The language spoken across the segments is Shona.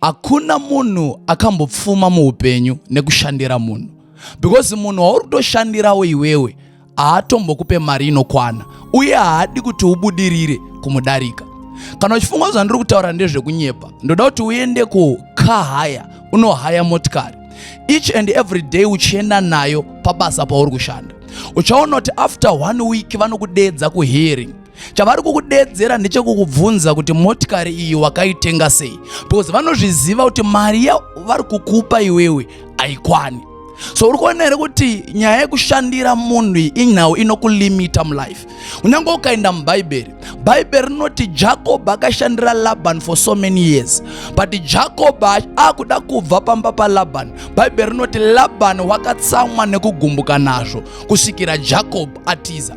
Hakuna munhu akambopfuma muupenyu nekushandira munhu because munhu wauri kutoshandirawo iwewe haatombokupe mari inokwana uye haadi kuti ubudirire kumudarika. Kana uchifunga kuti zvandiri kutaura ndezvekunyepa, ndoda kuti uende kukahaya unohaya motikari each and every day uchienda nayo pabasa pauri kushanda. Uchaona kuti after one week vanokudeedza kuhearing chavari kukudedzera ndechekukubvunza kuti motikari iyi wakaitenga sei because vanozviziva kuti mari yavari kukupa iwewe haikwani so uri kuona here kuti nyaya yekushandira munhu inhau inokulimita mulife kunyange ukaenda mubhaibheri bhaibheri rinoti jakobho akashandira labani for so many years but jakobho akuda kubva pamba palabani bhaibheri rinoti labani wakatsamwa nekugumbuka nazvo kusvikira jakobho atiza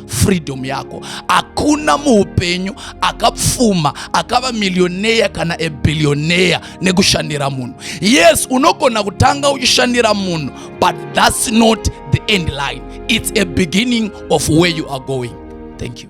freedom yako hakuna muupenyu akapfuma akava milioneya kana ebilioneya nekushandira munhu yes unogona kutanga uchishandira munhu but thats not the end line it's a beginning of where you are going thank you